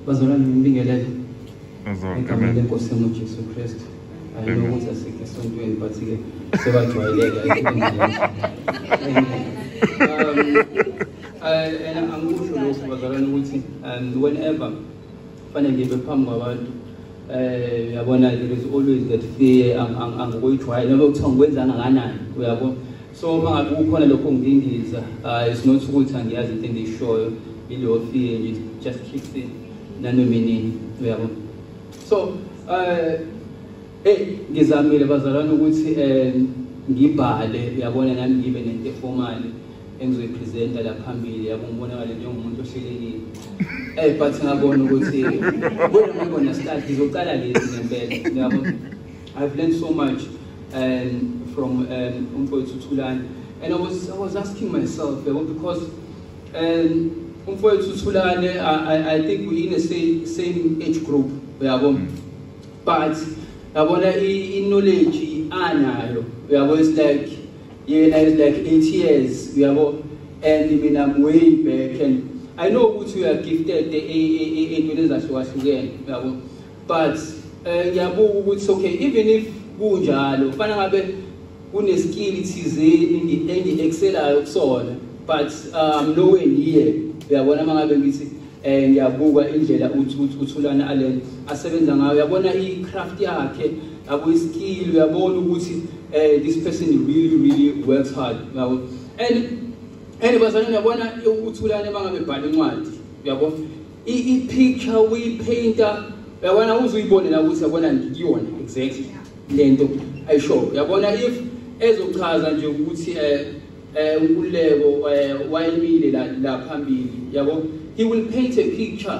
bazalwane ngibingelele egameni lenkosi yami ujesu kristu ayino ukuthi asikho esontweni but-ke sebajwayeleka um, angikusho lokhu bazalwane ukuthi um, whenever Fane ngibe phambi kwabantu eh uyabona there is always that fear angikuyijwayele noma kuthiwa ngikwenza kangakanani uyabo so uma ngabe kukhona lokho ngingingiza uh, it's not ukuthi angiyazi into engiyishoyo ileyo fear nje just kicks in nanoma inini uyabo so eh hey ngizamile bazalwane ukuthi eh ngibhale uyabona nami ngibe nento efomali engizoyipresenta la phambili yabo ngibonakale njengomuntu ohlelekile eh but ngabona ukuthi kodwa ngibona start ngizocala lezi ngempela yabo i've learned so much um, from um, umfowethu Thulani and i was i was asking myself yabo because um umfowethu Thulani I, I think we in the same same age group yabo mm. but yabona i knowledge anayo yabo it's like yena is like 8 years uyabo and mina I'm way back and I know ukuthi you are gifted eyintweni ezahlukahlukene uyabo but eh, ngiyabuka ukuthi okay even if kunjalo kufana ngabe kuneskill thizeni engi-excelayo kusona but um nowhere near uyabona uma ngabe ngithi eh ngiyabuka indlela uthi uthulana alena asebenza ngayo uyabona i-craft yakhe Yabo iskill uyabona ukuthi eh this person really really works hard. Yabo. And and bazalwane uyabona ukuthulana mangabe bhala incwadi. Yabo. I i picture we painter uyabona uzuyibone la ukuthi yabona ngiyona exactly lento ayisho. Yabona if ezochaza nje ukuthi eh eh ukuleko eh, wayimile la phambili yabo he will paint a picture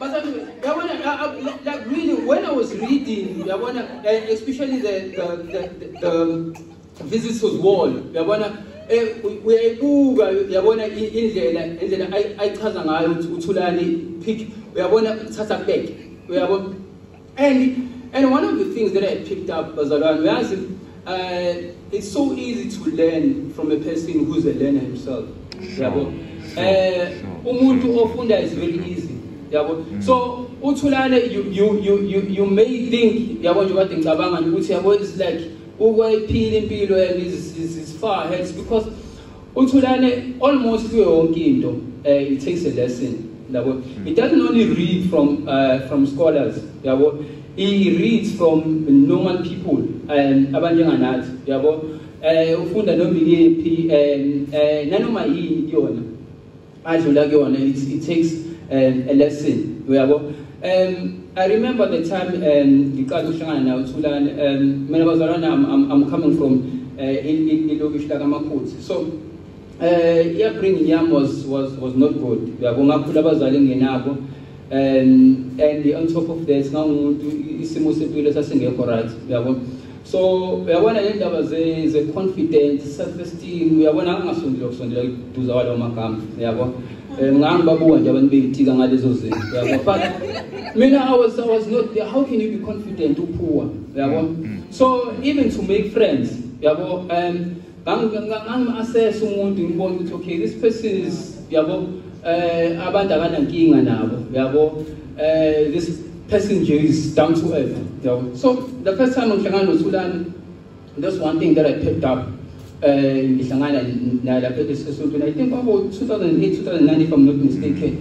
Yabona, like, like really, when I was reading, Yabona, eh, especially the, the, the, the, the visitors wall, Yabona, eh, uyayibuka yabona indlela indlela ayichaza ngayo ukuthi uthulani pick uyabona uthatha back uyabona And and one of the things that I picked up bazalwane uyazi uh, it's so easy to learn from a person who's a learner himself. Yabo. Eh umuntu ofunda is very easy. Yabo. Mm. So uthulane you you you you, you may think yabo nje kade ngicabanga ukuthi yabo it's like ukwayiphila impilo and is is far ahead because UThulane almost kuyo yonke into eh it takes a lesson yabo. It doesn't only read from uh, from scholars yabo. He reads from normal people um abanjenganathi yabo. Eh ufunda noma iyephi um eh nanoma yini kuyona. adlula kuyona it, it takes um, a lesson uyabo um i remember the time um ngiqala ukuhlangana nawe thulane um mina bazalwane I'm, i'm coming from uh, ilokishi lakamakhuthi so uh, upbringing yam was, was, was not good uyabo ngakhula abazali ngingenabo and and on top of that ngangumuntu isimo sempilo sasingekho right uyabona so uyabona le ndaba ze-confidence self esteem uyabona angingasondela ukusondela kuduza kwalawo magama uyabo um ngangibabuka nje abantu bengitika ngalezo zinto uyabo but mina I was, I was not how can you be confident uphuwa uyabo mm, mm. so even to make friends uyabo um ngangimu-assess umuntu ngibona ukuthi okay this person is yabo eh abantu akanankinga nabo yabo eh this person nje is down to earth yabo so the first time ngihlangana nothulani that's one thing that i picked up eh ngihlangana naye lapha esontweni i think kwabo 2008 2009 if i'm not mistaken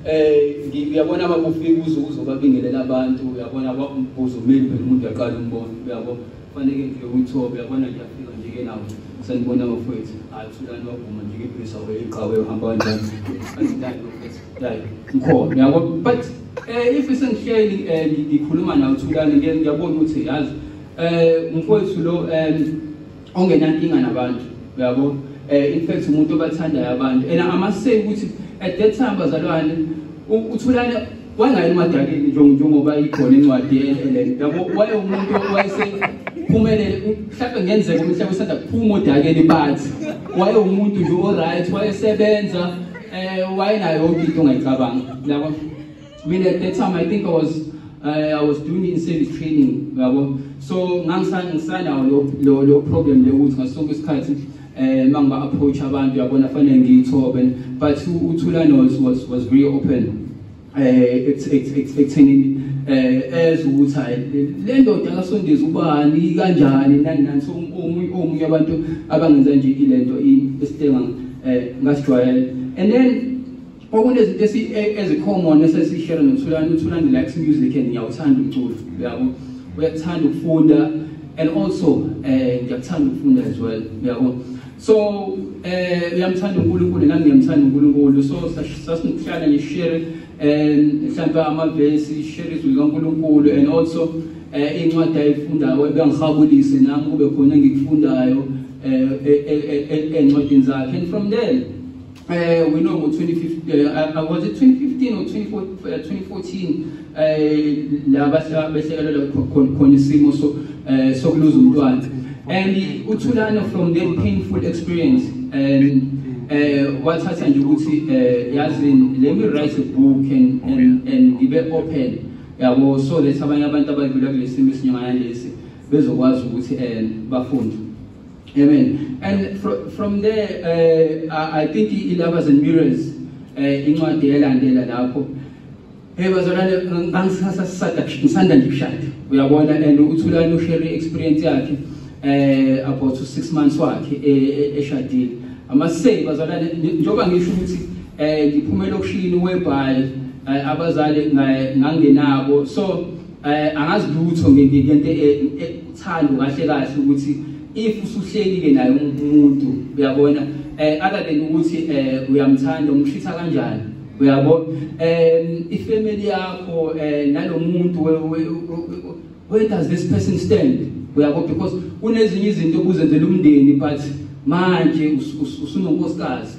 eh ngiyabona ababufika uzo uzobabingelela abantu uyabona kwakubuza umeli phela umuntu uyaqala umbona uyabo Kufanele ngifike kwiThobe yabona ngiyafika nje ke lapho. Sanibona bafowethu. Hayi usulani wavuma nje ngiphisa weyiqhawe uhamba kanjani. Angidali bafowethu. Dai. Ngikhona. Uyabo but eh if sengihleli eh, ngikhuluma nawe uthulani ngiyabona ukuthi yazi eh umfowethu lo eh ongenankinga nabantu. Uyabo? Eh in fact umuntu obathandayo abantu. Ena amaseki ukuthi at that time bazalwane uthulani wayengayeni madakini njengoba ikhona incwadi yehlelele yabo wayewumuntu wayesephumelele mhlawumbe ngenzeka umhlaba usanda kuphuma odakeni bathi wayewumuntu nje oright wayesebenza um wayenayo yonke into ongayicabanga yabo mina at that time i think i was uh, I was doing in service training yabo so ngangisanawo lo problem le ukuthi ngasonke isikhathi eh uma ngiba approach abantu yabona fanele ngiyithobe but uthulane was was was very open eh ekuthenini eh as ukuthi hayi le ndoda kasondezi ubani kanjani nani nani so omunye omunye abantu abangenza nje ilento isitenga eh ngasijwayela and then kwakunezinto e, ezikhomona esesishere nothulani uthulani likes music and ngiyawuthanda umculo uyabo uyakuthanda ukufunda and also um ngiyakuthanda ukufunda as well uyabo so um uyamthanda unkulunkulu nami ngiyamthanda unkulunkulu so sasinokuhlala ngishere um mhlawumbe amavesi ishere izwi likankulunkulu and also um incwadi ayifundayo ebengihabulise nami kube khona engikufundayo um e, e, encwadini zakhe and from there Uh, we know about 2015, uh, uh, was it 2015 or 2014 la behlekela khona isimo sokuluza umntwana and uthulana from that painful experience and wathatha nje ukuthi yazini let me write a book and and and ngibe open yabo so that abanye abantu abadlula kulesimo esinyangana lesi bezokwazi ukuthi um bafunde Amen. And fr from there, uh, I think Ilabas and Mirrors, uh, incwadi elandela lapho. Hey bazalwane ngangisasa sisada ngisanda nje kushada. Uyabona and uthulani ushare experience yakhe eh about 6 months wakhe e, e, eshadile. Amasey bazalwane njoba ngisho ukuthi eh ngiphumela okushini webhayi eh, abazali ngangenabo. So Eh angazi lutho ngento ethando eh, kahle kahle ukuthi if usuhlelile naye umuntu uyabona eh other than ukuthi eh uyamthanda umshitha kanjani uyabo um ifamily yakho eh nalomuntu where does this person stand uyabo because kunezinye izinto obuzenzela umndeni but manje usunonkosikazi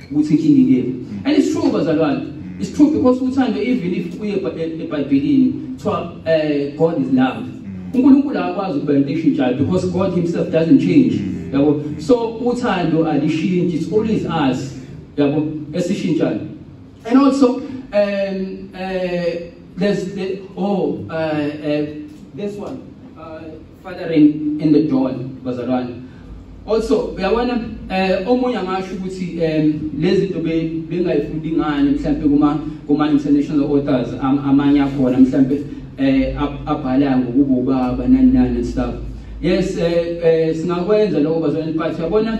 ukuthi inkinga ikephi and it's true bazalwane it's true because uthando even if uye ebhayibhelini kuthiwa um god is love unkulunkulu akakwazi ukuba into eshintshayo because god himself doesn't change yabo so uthando alishintshi it's always us yabo esishintshayo and also um uh, there's the, oh uh, uh, this one fathering in the dawn bazalwane also uyabona eh omunye angasho ukuthi em lezi zinto bengayifundi ngani mhlawumbe kuma kuma international authors amanye akhona mhlawumbe eh abhala ngokubo baba nani nani stuff yes eh, eh singakwenza lokho bazalwane but yabona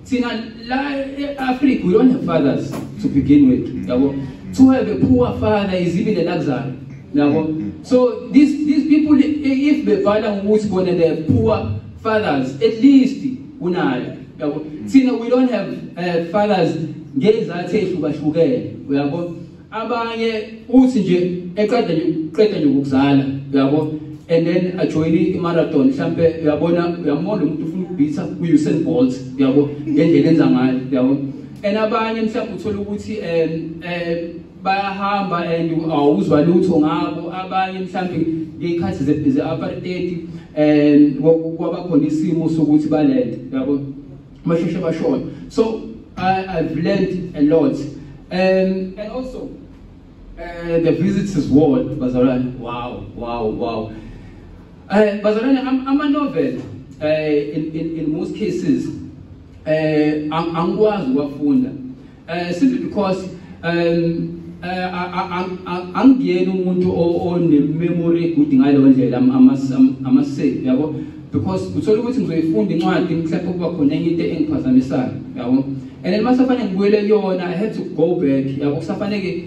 Thina la e-Africa we don't have fathers to begin with. Yabo. To have a poor father is even a luxury. Yabo. So these these people if bebhala ngokuthi bona they have poor fathers at least unayo. Yabo. Thina we don't have uh, fathers ngezathu ehlukahlukene. Uyabo? abanye uthi nje eqeda qeda nje ukuzala uyabo and then ajoyine i-marathon mhlampe uyabona uyamona umuntu ufuna ukubhitha ku-usain bolt uyabo ngendlela enza ngayo uyabo and abanye mhlawumbe uthole ukuthi um um bayahamba and awuzwa lutho ngabo abanye mhlawumbe ngey'khathi ze-apartedi um kwabakhona isimo sokuthi balele uyabo basheshe bashona so I, i've learned a lot um, and also uh, the visitors ward bazalwane wow wow wow uh, bazalwane ama-novel uh, in, in, in most cases uh, angikwazi ukuwafunda Eh simply because um eh, angiyena umuntu onememory egude ngaleyo ndlela amasave yabo because uthola ukuthi ngizoyifunda incwadi mhlawumbe kuba khona enye into engiphazamisayo yabo and then masafanele ngibuyele kuyona i had to go back yabo kusafanele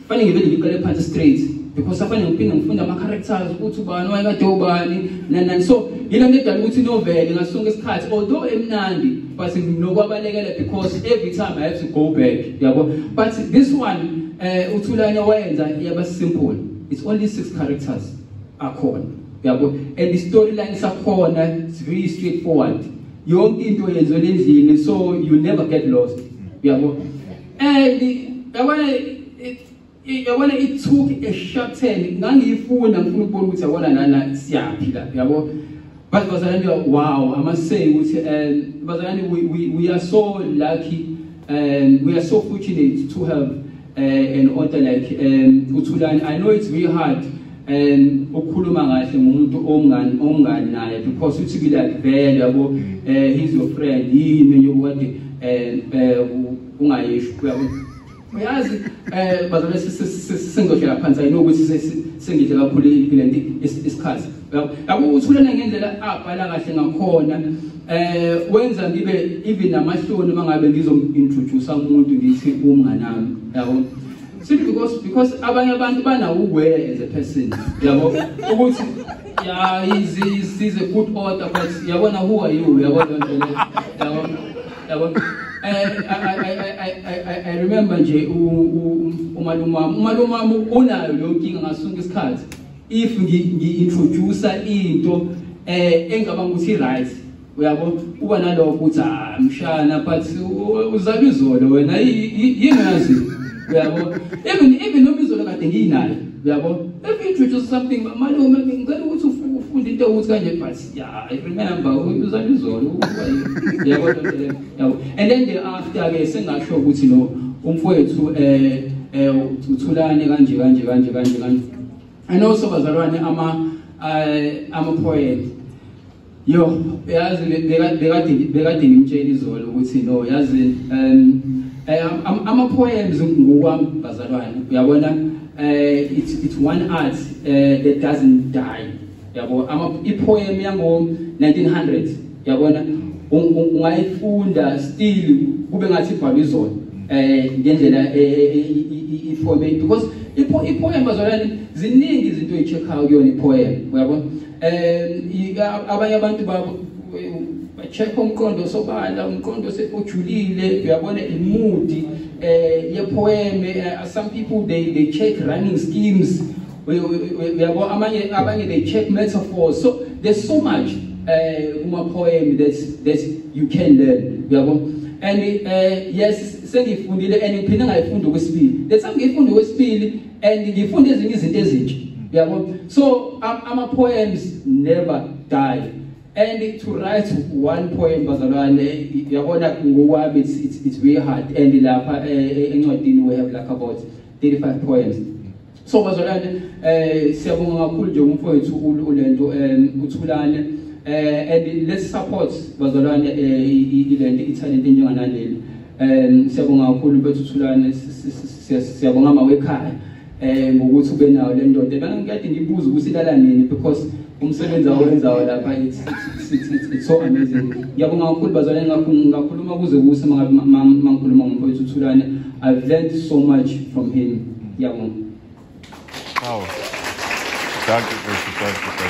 Fanele ngivele ngiqale phansi straight because afanele ngiphinde ngifunde ama characters ukuthi ubani wayekade ubani nani nani so yilo nto edala ukuthi novele ngaso sonke isikhathi although emnandi but nginokubalekela because every time I have to go back yabo but this one eh uthulane wayenza yaba simple it's only six characters akhona yabo and the storyline sakhona it's very straightforward yonke into yenziwe endlini so you never get lost yabo and yabona yabona it took a short time ngangiyifuna ngifuna ukubona ukuthi yabona nana siyaphi la yabo but bazalwane wow i must say ukuthi um bazalwane we, we, we are so lucky and we are so fortunate to have uh, an author like um, Utulani. I know it's very hard and ukukhuluma kahle ngomuntu ongani ongani naye because uthi kile akuvele yabo eh he's your friend yini enye ukade eh, eh ungayisho yabo uyazi eh bazalwa sengizohlela phansi ayino ukuthi sengidle kakhulu ilenti isikhathi yabo uthulana ngendlela abhala kahle ngakhona eh wenza ngibe even namahloni mangabe ngizom introduce umuntu ngithi umnganami yabo Simply because because abanye abantu banawo uware as a person. Yabo ukuthi ya is is is a good order but yabona who are you yabona nje le. Yabo yabo eh, I, I, I, I, I, I remember nje umalumam umalumam unayo leyo nkinga ngasunga isikhathi if ngi introduce into eh engicabanga ukuthi right uyabo uba nalokho ukuthi ah mshana but uzaba izolo wena yini yazi uyabo even even noma izolo kade ngiyinayo uyabo if you introduce something malume ngicela ukuthi ufunde into ukuthi kanje but yeah i remember uzaba izolo uyabo yabo and then the after ke sengasho ukuthi no umfowethu eh eh uthulane kanje kanje kanje kanje kanje and also bazalwane ama eh, ama poet Yo, yazi bekade bekade ngimtshela izolo ukuthi no yazi um eh, ama poems ngokwami bazalwane uyabona eh it's it's one art eh, that doesn't die yabo ama i poem yango 1900 yabona ungayifunda still kube ngathi ibhalwe izona eh ngendlela iformat eh, eh, because i poem bazalwane ziningi izinto echeck out kuyona i poem uyabona um abanye abantu check umqondo sobala umqondo ojulile uyabona imudi eh yepoem eh, some people they they check running schemes uyabo amanye abanye they check metaphors so there's so much eh uma poem that that you can learn uyabo and uh, yes sengifundile and ngiphinde ngayifunda okwesibili letha ngiyifunda okwesibili and ngifunda ezinye izinto ezintsha uyabo so ama poems never die and to write one poem bazalwane yabona ngowami it's, it's, it's very hard and lapha eh, eh, encwadini we have like about 35 poems so bazalwane eh siyabonga kakhulu nje umfowethu ulento eh, uthulane eh and let's support bazalwane eh, ilento italent njenganaleli Um siyabonga kakhulu bethu Thulane siyabonga mawekhaya eh ngokuthi ube nawo le ndoda bana ngikade ngibuza ukuthi ilala nini because umsebenzi awenzayo lapha it's it's so amazing ngiyabonga kakhulu bazalwane ngakho ngakhuluma kuze kuse mangikhuluma ngomfowethu Thulane i've learned so much from him ngiyabonga Wow. Danke, danke, danke.